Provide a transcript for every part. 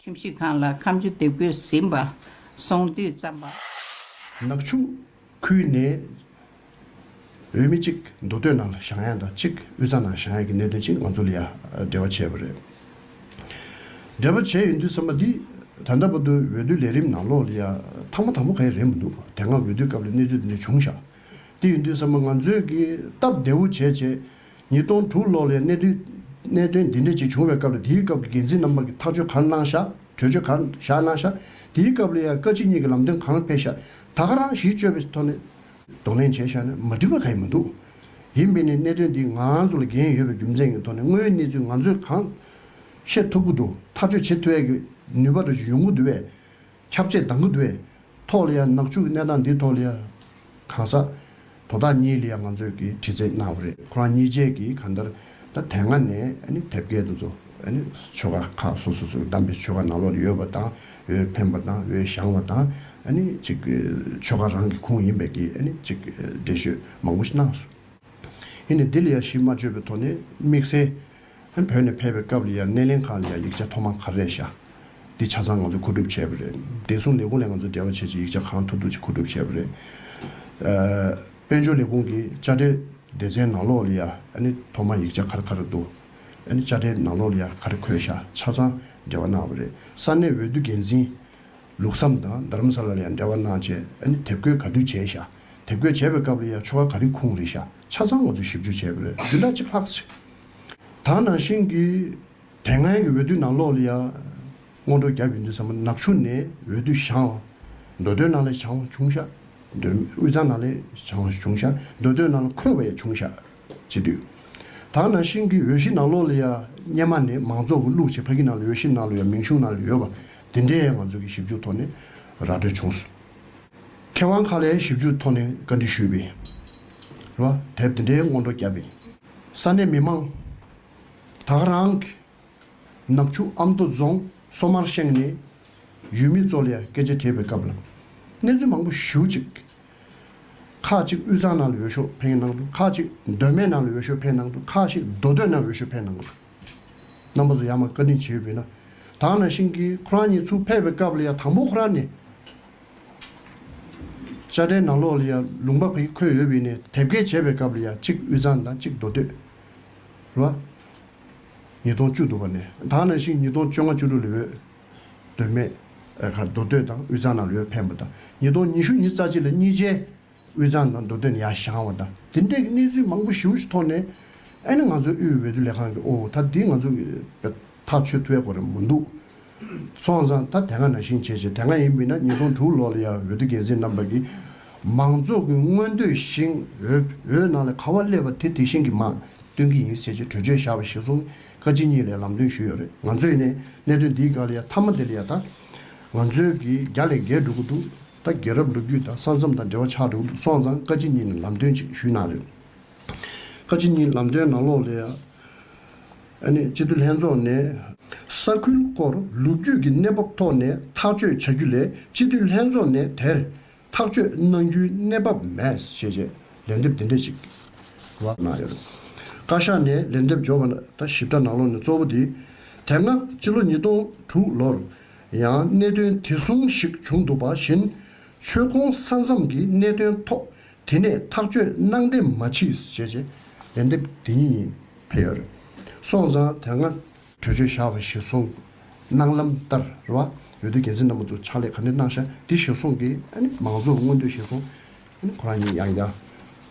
ཁྱིམ་གཞིས་ཁང་ལ་ཁམ་ཆུ་དེབ་སྐོས་ཟིན་པ། སོང་དུས་རྩམ་པ། ནག་ཆུ། ཁུལ་ནས་འོས་མི་གཅིག་མདོ་སྟོད་ནང་ལ་ཞང་ཡང་དང་གཅིག་དབུས་ས་ནང་ཞང་ཡང་གི་གནད་དོན་ཆེད་ང་ཚོ་ལ་ཡ་འབྲེལ་བ་བྱས་པ་རེད། འབྲེལ་བ་བྱས་ཡོད་འདུག་ཟེར་མ་འདིས་ད་ལྟ་བར་དུ་འོས་བསྡུ་ལས་རིམ་ནང་ལོགས་ལ་ཡ་ཐང་མ་ཐང་མོ་ག་ཡེ་རེད་མི་འདུག་དེ་སྔ་འོས་བསྡུའི་སྐབས་ལ་གནས་ཚུལ་འདི་འདྲ་བྱུང་ཤག་དེ་ཡོད་འདུག་ཟེར་མ་ང་ཚོས་གི་སྟབས་བདེ་བོ་བྱས་བྱས་ཉིས་སྟོང་དྲུག་ལོར་ལས་གནས་དོན་འདི་འདྲ་ཅིག་བྱུང་བའི་སྐབས་ལ་དེའི་སྐབས་ཀྱི་འགན་འཛིན་རྣམ་པ་ཀྱི་ཐག་གཅོད་གང་གནང་ཤག་གྲོས་ཆོད་གང་བཞག་གནང་ཤག་དེའི་སྐབས་ལ་ཡང་བཀའ་སྤྱི་གཉིས་ཀྱི་ལམ་སྟོན་གང་སྤེལ་ཤག་ད་ག་རང་གཞིས་བཅོལ་བའི་ཐོག་ནས་གདོང་ལེན་བྱས་ཤག་ན་མ་འགྲིག་པ་ག་ཡིན་མི་འདུག་ཡིན་མིན་ནི་གནད་དོན་འདི་ང་ཚོ་ལ་འགན་ཡོད་པའི་རྒྱུ་མཚན་གྱི་ཐོག་ནས་དངོས་ཡོད་གནས་ཚུལ་ང་ཚོས་གང་ཤེས་ཐུབ་ཀྱི་འདུག་ཐག་གཅོད་བྱེད་ཐུབ་འི་གི་ནུས་པ་དྲོ་ཆུ་ཡོང་གི་འདུག་བས་ཁྱབ་ཆེས་དང་གུད་པའི་ཐོག་ལ་ཡང་ནག་ཆུ་གནས་སྟངས་འདིའི་ཐོག་ལ་ཡང་གང་ཟག་དོ་བདག་གཉིས་ལ་ཡང་ང་ཚོས་ཀྱི་དྲི་རྩད་གནང་བ་རེད་ཁོ་རང་གཉིས་བཅས་ཀྱིས་གང་ལྟར་ད་དེ་སྔ་ནས་དེབ་སྐད་དུ་ཚོ་ཆོལ་ཁ་ཁག་སོ་སོ་སོ་བདམས་པའི་ཆོལ་ཁ་ནང་ལོག་ཡོད་པ་དང་འོས་འཕེན་པ་དང་འོས་བཞང་བ་དང་གཅིག་ཆོལ་ཁ་རང་གི་ཁུངས་ཡིན་པའི་གྱི་གཅིག་འགྲེལ་བཤོད་མང་པོ་ཞིག་གནང་སོང་ཧིན་ནས་འདི་ལ་ཡང་གཞི་མ་བཅོལ་བའི་ཐོག་ནས་དམིགས་བསལ། ཧན་བོད་ནས་ཕེབས་པའི་སྐབས་ལ་ཡང་སྣེ་ལེན་ཁང་ལ་ཡང་ཡིག་ཆ་ཐོག་མ་ག་རེ་བཞག་འདི་ཆ་ཚང་ང་ཚོས་མཁོ་སྒྲུབ་བྱས་པ་རེད་བདེ་སྲུང་ལས་ཁུངས་ལས་ང་ཚོས་འབྲེལ་བ་བྱེད་ཆེད་ཡིག་ཆ་གང་ཐུབ་ཐུབ་ཅིག་མཁོ་སྒྲུབ་བྱས་པ་རེད། དཔལ་འབྱོར་ལས་ཁུངས་ཀྱི་དཔྱ་ཁྲལ་སྡེ་ཚན་ནང་ལོགས་ལ་ཡང་ཐོག་མ་ཡིག་ཆ་ག་རེ་ག་རེ་འདུག་དཔྱ་ཁྲལ་ནང་ལོགས་ལ་ཡང་ག་རེ་འཁོད་བཞག་ཆ་ཚང་འབྲེལ་བ་གནང་བ་རེད་ས་གནས་འོས་བསྡུ་འགན་འཛིན་ལུགས་བསམ་དང་རྡ་རམ་ས་ལ་ལ་ཡང་འབྲེལ་བ་གནང་ཆེད་དེབ་འགོད་ག་དུས་བྱས་བཞག་དེབ་འགོད་བྱས་པའི་སྐབས་ལ་ཡང་ཆོ་ག་ག་རེ་ཁུངས་རེ་བཞག་ཆ་ཚང་ང་ཚོས་ཞིབ་འཇུག་བྱས་པ་རེད་བདུན་ཕྲག་གཅིག་ལྷག་དག་ནང་བཞིན་གྱི། དེ་སྔོན་གྱི་འོས་བསྡུ་ནང་ལོགས་ལ་ཡང། སྔོན་འགྲོ་རྒྱག་གི་འདུག་ཟེར་མ་ནག་ཆུ་ནས་འོས་བསྡུ་བྱང་བ། མདོ་སྟོད་ནང་ལས་བྱང་བ་བྱུང་ཤག། མདོ་དབུས་གཙང་ནང་ལས་བྱང་བ་བྱུང་ཤག་མདོ་སྟོད་ནང་ལ་འཁོད་པ་ཡང་བྱུང་ཤག་བྱེད་དུས། དག་ནང་བཞིན་གྱི་འོས་གཞི་ནང་ལོགས་ལ་ཡང་སྙེ་མ་ནས་མང་ཚོགས་ཀྱི་བླུགས་བྱེད་ཕ་གི་ནང་ལ་འོས་གཞི་ནང་ལ་ཡང་མིང་གཞུང་ནང་ལ་ཡོད་པ་དེ་འདྲས་ང་ཚོ་གི་ཞིབ་འཇུག་ཐོག་ནས་ར་སྤྲོད་བྱུང། མཁས་དབང་ཁག་ལས་ཞིབ་འཇུག་ཐོག་ནས་བཀའ་འདྲི་ཞུས་པས། ར་དེབ་དེ་འདྲས་སྔོན་འགྲོ་རྒྱབ་པས། ས་གནས་མི་མང་དག་རང་གི་ནག་ཆུ་ཨ་མདོ་རྫོང་སོ་མར་ཤང་ནས་ཡུལ་མི་ཚོ་ལ་སྐད་ཆ་དྲིས་པའི་སྐབས་ལ་གནས་ཚུལ་མང་པོ་ཞུ་གཅིག་ཁག་གཅིག་དབུས་གཙང་ནང་ལ་འོས་ཤོག་འཕེན་གནང་འདུག་ཁག་གཅིག་མདོ་སྨད་ནང་ལ་འོས་ཤོག་འཕེན་གནང་འདུག་ཁག་ཞིག་མདོ་སྟོད་ནང་འོས་ཤོག་འཕེན་གནང་འདུག་རྣམ་པ་ཚོ་ཡང་མང་བཀའ་དྲིན་ཆེ་ཡོད་པས་ན་དག་ན་ཤིང་གིས་ཁོ་རང་ཉིད་ཚུར་ཕེབས་པའི་སྐབས་ལ་ཡང་དང་པོ་ཁོ་རང་ནས་དཔྱ་ཁྲལ་ནང་ལོགས་ལ་ཡང་ལུང་པ་ཕུད་འཁོད་ཡོད་པས་ནས་དེབ་སྐྱེལ་བྱས་པའི་སྐབས་ལ་ཡང་གཅིག་དབུས་གཙང་དང་གཅིག་མདོ་སྟོད། རུ་བ། ཉིས་སྟོང་བཅུ་དུ་བ་ནས་དང་ནང་བཞིན་ཉིས་སྟོང་བཅོ་ལྔ་བཅུ་དྲུག་ལ་འོས་འདོད་མེད། ཁར་མདོ་སྟོད་དང་དབུས་གཙང་ནང་ལ་འོས་འཕེན་པ་དང་ཉིས་སྟོང་ཉི་ཤུ་ཉིས་རྩ་གཅིག་ལ་གཉིས་ཆའི། དབུས་གཙང་དང་མདོ་སྟོད་ཡ་ཞང་བ་དང་དེ་འདྲའི་གནས་ཚུལ་མང་པོ་ཞི་བོ་ཞིག་ཐོག་ནས་ཨེ་ན་ང་ཚོའི་དབུས་འོས་བསྡུ་ལས་ཁང་གི་ཨོ་ད་དེ་ང་ཚོ་གི་ཐག་ཆོད་ཐུ་བའི་གོ་རེ་མོ་འདུག་སོང་ཙང་ད་དེ་སྔ་ན་ཤིང་བྱེད་བྱེད་དེ་སྔ་ཡིན་མིན་ན་ཉིས་སྟོང་དྲུག་ལོ་ལ་ཡ་འོས་བསྡུ་འགན་འཛིན་རྣམ་པ་གི་མང་ཚོགས་གི་མངོན་འདོད་ཤིང་འོས་འོས་ནང་ལ་ག་བ་སླེབས་པ་དེ་དེ་བཞིན་གི་མང་སྟོན་གི་ཡིན་ཟེར་གྱི་གྲོས་ཆོད་བཞག་པ་ཞིག་སོང་ཀ་སྤྱི་གཉིས་ལས་ལམ་སྟོན་ཞུས་ཡོད་རེད་ང་ཚོས་ནས་གནད་དོན་འདིའི་སྒང་ལ་ཡ་མཐའ་མ་དེ་ལ་ཡ་ད་ང་ཚོའི་གི་རྒྱ་ལས་འགལ་འགྲོ་གི་འདུག་ད་རྒྱལ་རབས་ལོ་རྒྱུས་དང་ས་མཚམས་དང་འབྲེལ་བ་ཆགས་འདུག་སོང་ཙང་བཀའ་སྤྱི་གཉིས་ནས་ལམ་སྟོན་ཅིག་ཞུས་གནང་རེད། བཀའ་སྤྱི་གཉིས་ལམ་སྟོན་ནང་ལོགས་ལས། ཨ་ནི་སྤྱི་འཐུས་ལྷན་ཚོགས་ནས། ས་ཁུལ་སྐོར་ལོ་རྒྱུས་ཀྱི་གནས་བབ་ཐོག་ནས་ཐག་གཅོད་བྱ་རྒྱུ་ལས་སྤྱི་འཐུས་ལྷན་ཚོགས་ནས་དེར་ཐག་གཅོད་གནང་རྒྱུའི་གནས་བབ་མེད་ཞེས་རྗེས་ལན་འདེབས་འདི་འདྲ་ཅིག་གནང་ཡོད། བཀའ་ཤག་ནས་ལན་འདེབས་འབྱོར་བ་ད་ཞིབ་ཕྲ་ནང་ལོགས་ནས་གཙོ་བོ་དེ། དེ་སྔ་སྤྱི་ལོ་ཉིས་སྟོང་དྲུག་ལོར་ཡང་གནད་དོན་དེ་ཟུང་ཞིག་བྱུང་འདུག་པ་བཞིན་ཆོལ་ཁོང་ས་མཚམས་ཀྱི་གནད་དོན་ཐོག་དེ་ནས་ཐག་གཅོད་གནང་བདེ་མ་མཆིས་ཞེས་བྱས་ལན་འདེབས་དེ་ཉིད་ཡིན་ཕེར། སོང་ཙང་དེ་སྔ། གྲོས་ཆོད་བཞག་པ་ཞེས་གསུངས་གནང་ལམ་ལྟར་ར་བ་འོས་བསྡུ་འགན་འཛིན་རྣམ་པ་ཚོ་ཕྱག་ལས་ག་འདི་གནང་ཤག་འདི་ཞེས་གསུངས་ཀྱི་ཨ་ནི་མང་གཙོ་མངོན་འདོད་ཞེས་གསུངས་ཁོ་རང་ཉིད་ཡང་ཡང་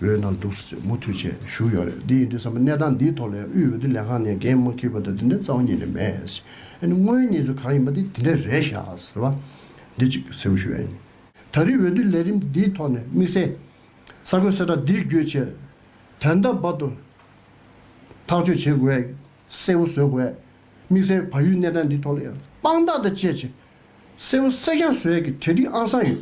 འོས་གནང་འདུག་ཟེར་མུ་མཐུད་ཆེད་ཞུ་ཡོད་རེད་འདི་ཡིན་དུས་བསམ་པ་གནས་སྟངས་འདིའི་ཐོག་ལས་དབུས་འོས་བསྡུ་ལས་ཁང་ནས་འགན་མ་ཁུར་བ་དང་དེ་འདྲའི་རྩ་བ་ཉིད་ནས་མེད། དངོས་གནས་ཚུལ་གང་ཡིན་པ་དེ་དེ་འདྲ་རེད་བཞག་ཟེར་བ་འདི་གཅིག་གསལ་བོ་ཞུ་ཡ་ཡིན། ད་རེའི་འོས་བསྡུ་ལས་རིམ་འདིའི་ཐོག་ནས་དམིགས་བསལ་གསར་འགོད་གསལ་བསྒྲགས་འདི་བརྒྱུད་ཆེད་དོན་ལྟ་བབ་ཏུ་ཐག་གཅོད་བྱེད་དགོས་ཡ་གསལ་བོ་བཟོས་དགོས་ཡ། དམིགས་བསལ་བལ་ཡུལ་གནས་སྟངས་འདིའི་ཐོག་ལ་ཡང་དཔང་རྟགས་དང་བཅས་ཆེད་གསལ་བོ་གསལ་རྐྱང་བཟོས་ཡ་གི་གྲལ་སྒྲིག་ཨང་སང་ཡོད།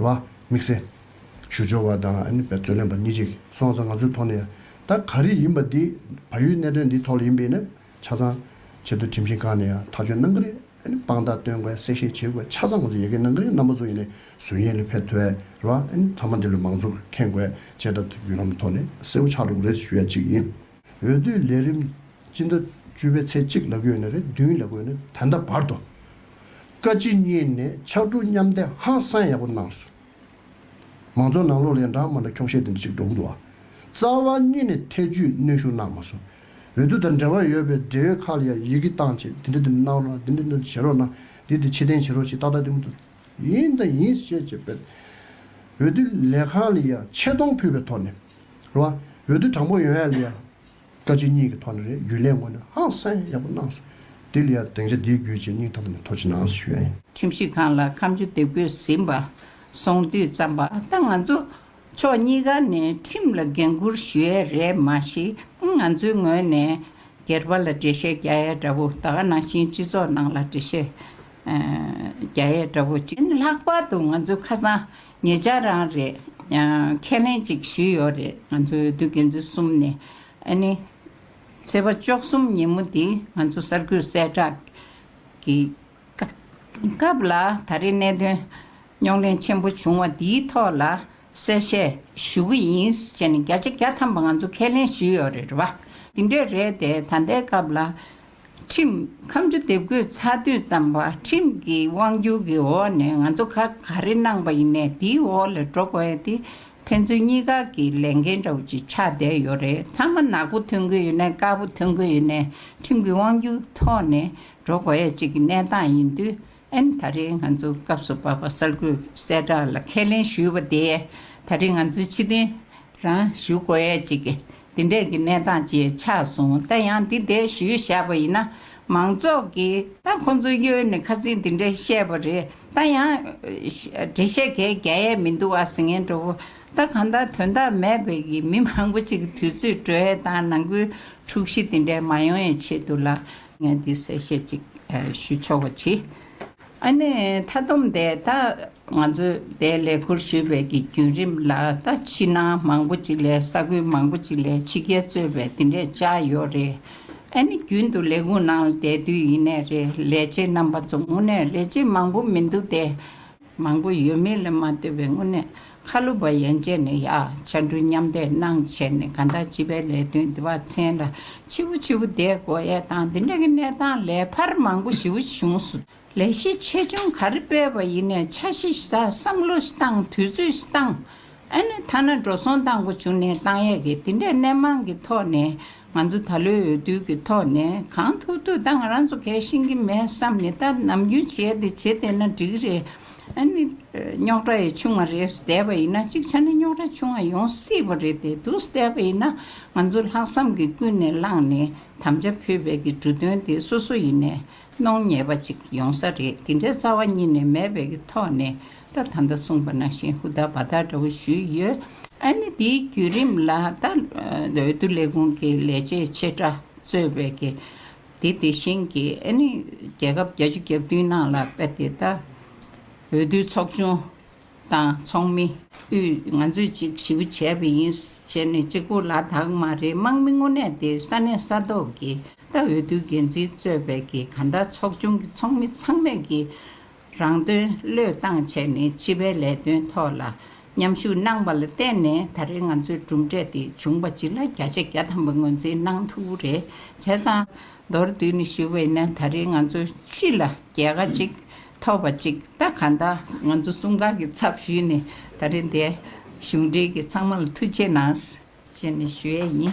ལ་དམིགས་བསལ་ཞུ་འབྱོར་བ་དང་རྩོད་ལན་པ་གཉིས་ཅིག་སོང་ཙང་ང་ཚོའི་ཐོག་ནས་ད་ག་རེ་ཡིན་པ་འདི་བལ་ཡུལ་གནད་དོན་འདི་ཐོག་ལ་ཡིན་པས་ན་ཆ་ཚང་ཆེད་དུ་ཁྲིམས་ཞིང་ཁང་ནས་ཡང་ཐག་གཅོད་གནང་གི་རེད་དཔང་རྟགས་སྟོན་དགོས་གསལ་བཤད་བྱེད་དགོས་ཆ་ཚང་ང་ཚོ་ཡལ་གས་གནང་གི་རེད་རྣམ་པ་ཚོ་ཡིན་ནས་ཟུར་ཡན་ལས་ཕེབས་ཐོས་ར་བ་ཚང་མ་འདི་ལོ་མང་ཚོགས་ཁེངས་དགོས་བཅད་ཁྲ་ཐུབ་བརྒྱུད་ལམ་ཐོག་ནས་གསལ་བོ་ཆགས་འགྲོ་གི་རེད་ཞུ་ཡ་གཅིག་ཡིན། འོས་བསྡུའི་ལས་རིམ་སྤྱི་ཟླ་བཅུ་པའི་ཚེས་གཅིག་ལ་བསྐོས་ནས་རེ་བདུན་ལ་བསྐོས་ནས་ད་ལྟ་བར་དུ་བཀའ་སྤྱི་གཉིས་ནས་ཕྱག་གྲུ་མཉམ་གཏད་ཧང་སང་ཡག་པོ་གནང་སོང། མང་གཙོ་ནང་ལོག་ལས་འབྲང་མ་འདྲ་ཁྱོག་བཤད་དེ་འདྲ་ཅིག་འགྲོ་གི་འདུག་ཨ། རྩ་བ་གཉིས་ནས་ཐད་ཇུས་གནོན་ཤུགས་གནང་མ་སོང། འོས་བསྡུ་དང་འབྲེལ་བ་ཡོད་པའི་འབྲེལ་ཡོད་ཁག་ལ་ཡང་ཡི་གེ་བཏང་བྱས་དེ་འདྲ་དེ་འདྲ་གནང་རོགས་དེ་འདྲ་འདྲ་བྱེད་རོགས་གནང་དེ་དེ་ཕྱི་བསྟན་བྱེད་རོགས་ཞེས་ཏག་ཏག་དེ་མུ་མཐུད་ཡིན་དང་ཡིན་བཤད་བྱས་པས། འོས་བསྡུ་ལས་ཁང་ལ་ཡང་ཆེ་མཐོང་ཕུལ་བའི་ཐོག་ནས། རོ། འོས་བསྡུ་དྲང་པོ་ཡོང་ཡ་ལ་ཡང། བཀའ་སྤྱི་གཉིས་ཀྱི་ཐོག་ནས་རྒྱུན་ལས་ངོས་ནས་ཧང་སངས་ཡག་པོ་གནང་སོང། དེ་ལ་ཡང་སྡིངས་ཆ་འདིའི་བརྒྱུད་ཆེ་སྙིང་ཐོག་ནས་ཐུགས་ཆེ་གནང་ཞུ་ཡ་ཡིན། ཁྱིམ་གཞིས་ཁང་ལ་ཁམ་ཆུ་འདེབས་དགོས་ཟིན་པ་སོང་དུས་བརྩམས་པ་ད་ང་ཚོ་ཕྱོགས་གཉིས་ཀ་ནས་ཁྲིམས་ལ་འགན་འཁུར་ཞུ་ཡ་རེད་མ་གཞི་ང་ཚོའི་ངོས་ནས་སྒེར་པ་ལ་འགྲེལ་བཤད་རྒྱག་ཡ་འདྲ་བོ་ད་ག་ནང་བཞིན་སྤྱི་ཚོགས་ནང་ལ་འགྲེལ་བཤད་རྒྱག་ཡ་འདྲ་བོ་བྱེད་ན་ལྷག་པར་དུ་ང་ཚོའི་ཁ་སང་ངེད་ཅག་རང་རེད་ཁས་ལེན་གཅིག་ཞུས་ཡོད་རེད་ང་ཚོའི་དུས་དགེ་འཛིན་གསུམ་ནས་ཨ་ནི། ཚེས་པ་བཅོ་གསུམ་ཉིན་མོ་འདི་ང་ཚོ་གསར་འགོད་གསལ་བསྒྲགས་ཀྱི་སྐབས་ལ་ད་རེས་གནད་དོན་རྙོག་གླེང་ཆེན་པོ་བྱུང་བ་འདིའི་ཐོག་ལ་གསལ་བཤད་ཞུ་གི་ཡིན་བྱས་ནས་བརྒྱ་ཆ་བརྒྱ་ཐམ་པ་ང་ཚོ་ཁས་ལེན་ཞུས་ཡོད་རེད་བ། འདི་འདྲས་རེད་དེ་ད་ལྟའི་སྐབས་ལ་ཁྲིམས་ཁམས་ཆུ་འདེབས་སྒོས་ཚ་དུས་བརྩམས་པ་ཁྲིམས་ཀྱི་དབང་བསྒྱུར་གྱི་འོག་ནས་ང་ཚོ་ཁ་ག་རེ་གནང་པ་ཡིན་ནས་དེའི་འོག་ལས་འགྲོ་དགོས་ཡོད་དེ་ཕན་ཚུན་གཉིས་ཀ་གི་ལས་འགན་འདྲ་བོ་ཅིག་ཆགས་བསྡད་ཡོད་རེད་མཐའ་མ་ནག་པོ་ཐོན་གི་ཡོད་ནས་དཀར་པོ་ཐོན་གི་ཡོད་ནས་ཁྲིམས་ཀྱི་དབང་བསྒྱུར་ཐོག་ནས་འགྲོ་དགོས་ཡ་ཅིག་གི་གནས་སྟངས་ཡིན་དུས་ཨན་ད་རེས་ང་ཚོ་སྐབས་སུ་བབས་པ་གསར་འགོད་གསལ་བསྒྲགས་ལ་ཁས་ལེན་ཞུས་པ་དེས་ད་རེས་ང་ཚོའི་ཕྱི་གཏན་རང་ཞུ་གོ་ཡས་ཅིག་འདི་འདྲས་ཀྱི་གནས་སྟངས་བཅས་ཆགས་སོང་ད་ཡང་འདི་འདྲས་ཞུས་བཞག་པ་ཡིན་ན་མང་ཚོགས་ཀྱི་ད་ཁོང་ཚོ་གཡོལ་ནས་ཁ་ཚིག་འདི་འདྲས་བཤད་པ་རེད་ད་ཡང་འབྲེལ་བཤད་གས་རྒྱ་ཡས་མི་འདུག་ཨ་ཟེ་ངན་འགྲོ་བོ་ད་གང་ལྟར་དོན་དག་མེད་པའི་གི་མི་མང་པོ་ཅིག་དུས་ཚོད་སྤྲོད་ཡས་དང་ནང་ཁུལ་འཁྲུག་གཞི་འདི་འདྲས་མ་ཡོང་ཡས་ཆེད་དུ་ལ་ངས་འདི་གསལ་བཤད་ཅིག་ཞུ་ཆོག་པ་གྱིས། ཨ་ནེ་མཐའ་སྡོམ་འདས་ད་ང་ཚོས་འདས་ལས་ཁུར་ཞུས་པའི་གི་རྒྱུན་རིམ་ལ་ད་ཕྱི་ནང་མང་པོ་ཅིག་ལས་ས་ཁུལ་མང་པོ་ཅིག་ལས་ཕྱི་རྒྱལ་གཙོས་པའི་འདི་འདྲས་བཅའ་ཡོད་རེད། ཨ་ནེ་རྒྱུན་དུ་ལས་ཁུངས་ནང་ལ་འདས་དུས་ཡིན་ནས་རེད་ལས་བྱེད་རྣམ་པ་ཚོ་དངོས་གནས་ལས་བྱེད་མང་པོ་མི་འདུག་སྟེ། མང་པོ་ཡོད་མེད་ལ་མ་ལྟོས་པའི་དངོས་གནས། ཁ་ལོ་བ་ཡན་ཆད་ནས་ཡ་ཆ་འབྲུ་མཉམ་འདེགས་གནང་བྱས་ནས་གང་དག་སྤྱི་པའི་ལས་དོན་འདི་བ་ཚན་ལ་ཆི་བོ་ཆི་བོ་བསྡད་དགོས་ཡས་དང་འདི་འདྲ་གི་གནས་སྟངས་ལས་ཕར་མང་པོ་ཞིའུ་གཞུང་སུ་ལས་གཞི་ཆེ་ཆུང་ག་རེ་སྤེལ་བ་ཡིན་ནས་ཆ་ཤི་ཤི་ད་བསམ་བློ་ཤི་བཏང་དུས་ཚོད་ཤི་བཏང་ཨ་ནི་ཐ་ན་འགྲོ་སོང་བཏང་གོ་བྱུང་ནས་བཏང་ཡས་ཀི་འདི་འདྲས་གནས་མང་གི་ཐོག་ནས་ང་ཚོ་ད་ལོའི་འོས་བསྡུ་གི་ཐོག་ནས་གང་ཐུབ་ཐུབ་ད་ང་རང་ཚོ་གལ་ཤིང་གི་མེད་བསམ་ནས་ད་ནམ་རྒྱུན་བྱས་དེ་བྱེད་བསྡད་ན་འགྲིག་རེད། ཨ་ནི། རྙོག་དྲ་ཡི་ཆུང་བ་རེད་བསྡད་པ་ཡིན་ན་གཅིག་ཆ་ན་རྙོག་དྲ་ཆུང་བ་ཡོང་སྲིད་པ་རེད་དེ་འདུག་བསྡད་པ་ཡིན་ན་ང་ཚོ་ལྷག་བསམ་གི་ཀུན་ནས་བསླངས་ནས་དམ་བཅའ་ཕུད་པའི་གི་འབྲུ་དོན་དེ་སོ་སོ་ཡིན་ནས་གནོང་ཉེས་པ་ཅིག་ཡོང་ས་རེད་འདི་འདྲའི་རྩ་བ་གཉིས་ནས་མེད་པའི་གི་ཐོག་ནས་ད་ད་ད་གསུངས་པ་ནང་བཞིན་ཧུ་དག་བ་དག་འདྲ་བོ་ཞུས་ཡོད། ཨ་ནི་འདིའི་བརྒྱུད་རིམ་ལ་ད་འོས་བསྡུ་ལས་ཁུངས་ཀྱི་ལས་བྱེད་ཆེ་ཕྲ་གཙོས་པའི་གི་འདི་དེ་བཞིན་གི་ཨ་ནི་རྒྱལ་ཁབ་བརྒྱ་ཅུ་གྱ་བདུན་ནང་ལ་དཔེ་དེ་ད་འོས་བསྡུའི་ཚོགས་ཆུང་དང་ཚོགས་མི། དབུས་ང་ཚོས་གཅིག་ཞི་བ་བྱས་པ་ཡིན་བྱས་ནས་གཅིག་པོ་ལ་དྭགས་མ་རེད་དམག་མི་དངོས་གནས་དེ་ས་གནས་ས་ཐོག་གི་ལྟ་འོས་བསྡུ་འགན་འཛིན་གཙོས་པའི་གི་ག་ཟླ་ཚོགས་ཆུང་གི་ཚོགས་མི་ཚང་མས་གི་རང་དོན་བློས་བཏང་བྱས་ནས་སྤྱི་པའི་ལས་དོན་ཐོག་ལ་མཉམ་ཞུགས་གནང་པ་ལ་བརྟེན་ནས་ད་རེ་ང་ཚོའི་གྲུབ་འབྲས་དེ་བྱུང་པ་སྤྱི་ལ་བརྒྱ་ཆ་བརྒྱ་ཐམ་པ་ངོས་འཛིན་གནང་ཐུབ་པོ་རེད་བྱས་ཙང་མདོར་བསྡུས་ནས་ཞུ་བ་ཡིན་ན་ད་རེ་ང་ཚོ་སྤྱི་ལ་རྒྱལ་ཁ་གཅིག་ཐོག་པ་གཅིག་ད་ག་ད་ང་ཚོ་གསུམ་ག་གི་ཚབ་ཞུས་ནས་ད་རིང་དེ་གཞུང་འབྲེལ་གྱི་ཚང་མ་ལ་ཐུགས་ཆེ་གནང་ཞེས་ཞུ་ཡས་ཡིན།